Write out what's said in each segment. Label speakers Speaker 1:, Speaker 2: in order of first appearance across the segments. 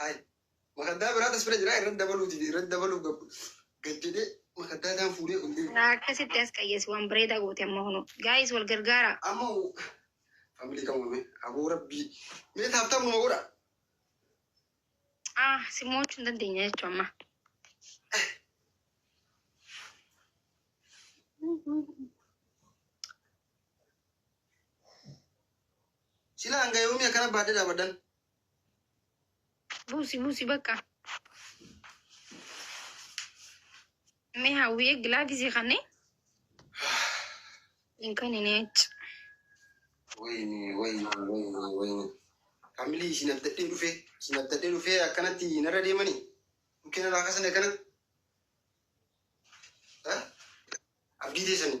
Speaker 1: Hay.
Speaker 2: Makaddaa biraa tas bira jira irra dabaluu dide irra dabaluuf gab gad jedhee makaddaa isaan fuudhee ol deemu. Akkasitti as qayyeessi
Speaker 1: waan bareedaa goote amma hunu. Gaayis wal gargaaraa. Amma family
Speaker 2: kan uumame aboo rabbii mee taaptaap numa godha. Ah
Speaker 1: si mo'achuu hin dandeenya jechuun amma.
Speaker 2: Sila hanga yoomii akkana baadhee dhaabaddan. Buusi
Speaker 1: buusi bakka. Mee hawwiyee gilaa gisee kanne. Hin kan hin eecci. Wayne, wayne,
Speaker 2: wayne, wayne. Kamilii isin abdadhee dhufee, isin abdadhee dhufee akkanatti narra deemanii? Bukkee narraa kasan akkana? Eh? Abdii teessanii?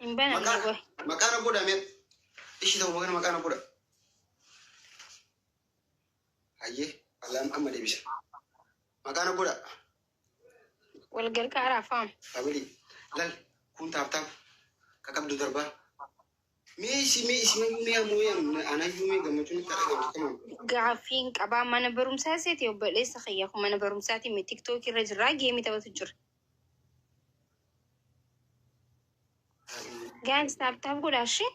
Speaker 1: Hin banamne Maqaa qoy. maqaa na godha mee.
Speaker 2: Ishii tokko kana maqaa na godha. Hayyee bal'aan amma deebisa. Maqaa na godha. Wal gargaaraa
Speaker 1: faam. Family
Speaker 2: lal kun taaptaap ka qabdu darbaa. Mee isi mee isi mee mee ammoo yaa anayyuu mee gammachuun itti argamtu kamaan. Gaaffiin qabaa
Speaker 1: mana barumsaa seeti obboleessa kiyya kun mana barumsaati mi tiktookii irra jirraa geemii taphatu jira. Guys, taap taap godhaa ishee.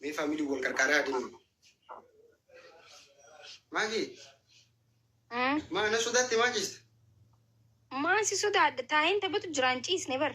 Speaker 2: Mee faamilii wal qarqaaraa adeemu. Maaki, Mm. maa na sodaatte maa jiste?
Speaker 1: Maan si sodaadha? Taa'een taphatu jiraan ciisne bar.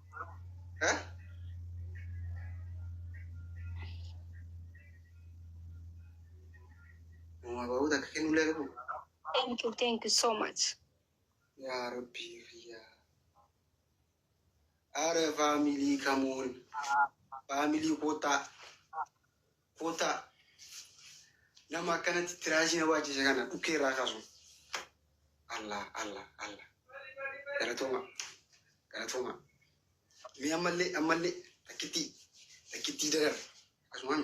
Speaker 2: Mabaa'uuta akka kennu illee qabu. Thank you,
Speaker 1: thank you so much. Yaa
Speaker 2: Rabbii kiyyaa. Aara faamilii kamuun. Faamilii kootaa. Kottaa nama akkanatti tiraashii na baachise kana dhukkee irraa kaasu. Allah Allah Allah. Galatooma galatooma. Mee ammallee ammallee takkittii takkittii darar akkasumaan.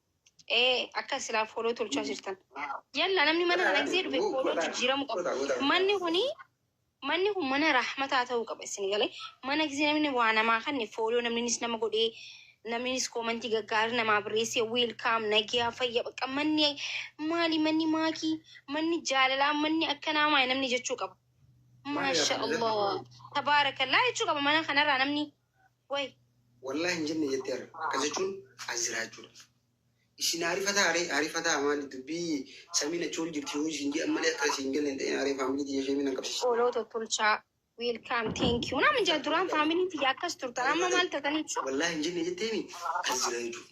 Speaker 1: ee akka silaa fooloo tolchaa jirtan yalla namni mana kana gisee dhufe fooloo jijjiiramu qaba manni kuni manni kun mana rahmataa ta'uu qaba isin galee mana gisee namni waa namaa kanne fooloo namninis nama godhee namninis koomantii gaggaarii namaa barreessee wiilkaam nagiyaa fayya bakka manni maali manni maakii manni jaalalaa manni akkanaa maali namni jechuu qaba maasha allah tabaarakallaa jechuu qaba mana kanarraa namni Way. Wallahi hin
Speaker 2: jenne jettee arga. Akkas jechuun as jiraachuudha. Isin aarifataa aree aarifataa maali dubbii samiin achi ol jirti yoo isin jedhan malee akka isin galle hin ta'in aree faamilii tiyya ishee miidhan qabsiisa. Fooloo tottolchaa.
Speaker 1: Welcome, thank you. Namin jaa duraan faamiliin tiyya akkas turtan amma maal tataniitu? Wallahi hin jenne jetteeni
Speaker 2: as jira jechuudha.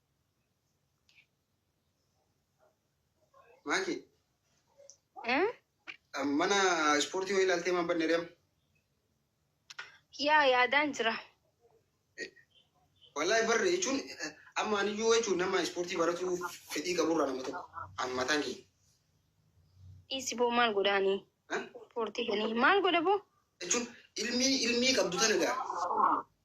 Speaker 2: Maaki, Hmm? mana ispoortii wayii ilaaltee maan banne reem? Yaa
Speaker 1: yaadaan jira.
Speaker 2: Wallahi barre jechuun eh, amma aniyyuu jechuun nama ispoortii baratuu fedhii qaburraa nama tokko. Amma mataan kiyya.
Speaker 1: Dhiisi boo maal godhaanii? Ha? Ispoortii godhanii maal godha boo? Jechuun
Speaker 2: ilmii ilmii qabdu tana gaa.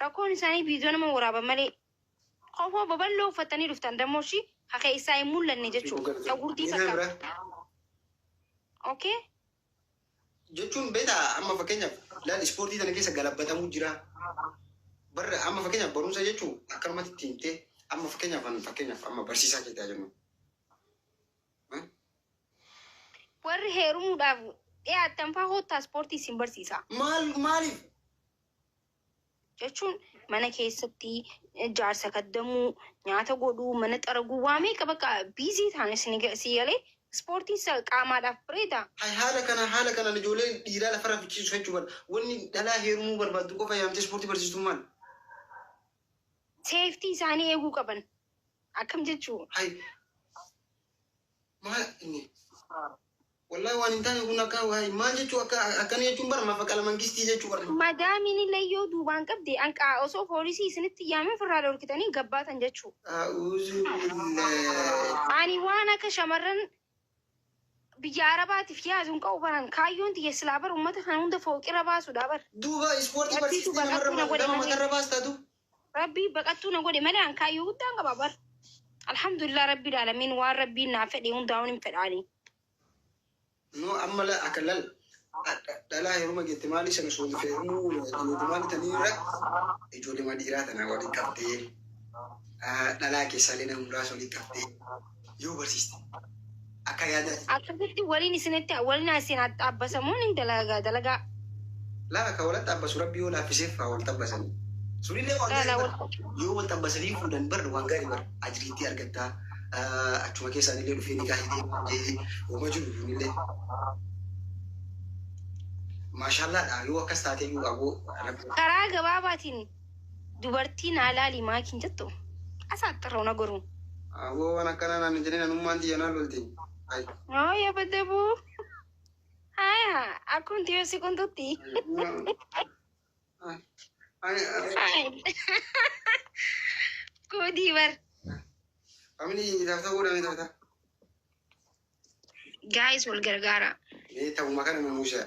Speaker 1: Rakkoon isaanii viidiyoo nama waraaban malee kofoo baballoo uffattanii dhuftan dammoshi ka keessaa hin mul'anne jechuu ka gurdii Miinaa bira fakkaatu. Okay?
Speaker 2: jechuun beektaa amma fakkeenyaaf ilaali ispoortii tana keessa galabbatamuu jira. Barra amma fakkeenyaaf barumsa jechuun akkanumatti itti himtee amma fakkeenyaaf an fakkeenyaaf amma barsiisaa keetaa jennu. Eh?
Speaker 1: Warri heerumuudhaaf dhiyaattan faa hoottaa ispoortii isin barsiisa. Maal maaliif jechuun mana keessatti jaarsa kaddamuu nyaata godhuu mana xaraguu waa meeqa bakka biizii taane si galee ispoortiin qaamaadhaaf bareeda. Haala kana haala
Speaker 2: kanaan ijoollee dhiiraa lafarraa fichiisuuf jechuu bada. Wanni dhalaa heerumuu barbaaddu qofa yaamtee ispoortii barsiistuun maal?
Speaker 1: Seeftii isaanii eeguu qaban akkam jechuu? Hay Maal
Speaker 2: inni? Wallahi waan hin taane kun akka waa'ee maal jechuu akka akkana jechuun bara mafaqala mangistii jechuu warri. Madaamiin illee yoo
Speaker 1: duubaan qabde anqaa osoo poolisii isinitti yaaman firraa dhorkitanii gabbaatan jechuu. A'uuzu billaah. Ani waan akka shamarran biyya arabaatiif yaadu hin qabu baran kaayyoon tiyya silaa bar ummata kana hunda fooqirra baasuudha bar. Duuba ispoortii Barsiisuu barsiisti
Speaker 2: baqachuu na namarra godhe nama malee. matarra baastaatu Rabbii baqattuu
Speaker 1: na godhe malee an kaayyoo guddaan qaba bar. Alhamdulillah rabbii daalamiin waan rabbiin naa fedhe hundaa'uun hin fedhaanii.
Speaker 2: No amma la akka lal dhalaa heruma jette maali sana suudi feerumu ijoollee maali taniirra ijoollee maali dhiiraa tanaa waliin qabdee dhalaa keessaalee nama muraasa waliin qabdee yoo barsiiste akka yaada Akkasitti waliin isinitti
Speaker 1: waliin isin haxxaabbasamuun hin dalagaa dalagaa. laala
Speaker 2: ka walitti abbasu rabbi yoo laaffiseef haa walitti abbasan sunillee waan Laala gaarii wal- bara. yoo walitti abbasanii fuudhan bar waan gaarii bara ajiriitti argattaa Ah, achuma keessaan illee dhufee ni gaahitee jee uma jiru kunillee maashaallaadha yoo akkas taatee yoo aboo rabbi Karaa
Speaker 1: gabaabaatiin Dubartii naa laali maaki hin jettu? Asaaxxirroo na goruu. Aboo waan akkanaa
Speaker 2: naan hin jedhin anummaan tiyya naa lolti. Ay. Moo
Speaker 1: yabadabuu. Haya akkum tiyoo si qunxutti. Ay. Ay. Ay. Koodii bar. Family
Speaker 2: itaaf ta'uu dhaan itaaf ta'a.
Speaker 1: Gaayis wal gargaara. Mee ta'uma kana
Speaker 2: nu muushaa.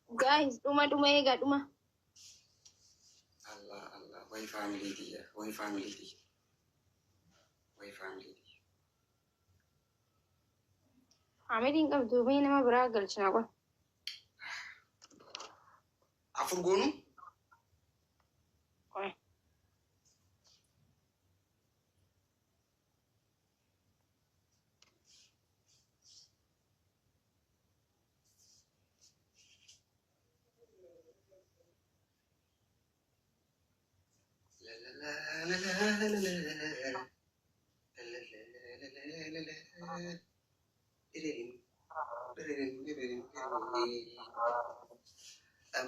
Speaker 2: Guys dhuma
Speaker 1: dhuma eega dhuma. Allah
Speaker 2: Allah way family tiyya way family tiyya way family
Speaker 1: tiyya. Ameliin qabdu mee nama biraa galchina qofa.
Speaker 2: Afur goonu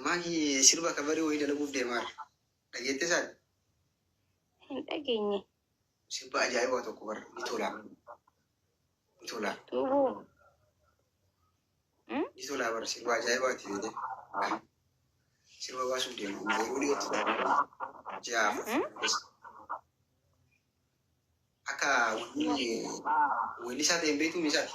Speaker 2: Maaki sirba kabarii wayii dalaguuf deemaa jira. Dhageettee isaati? Hin
Speaker 1: dhageenye. sirba
Speaker 2: ajaa'ibaa tokko bar ni tolaa ni tolaa
Speaker 1: Duubuu. Hmm?
Speaker 2: ni tolaa bar sirba ajaa'ibaati yoo ta'e sirba baasuuf deema amma yeroo dhiyootti ja'a Hmm? akka wanni wanni isaa ta'e hin beektu misaati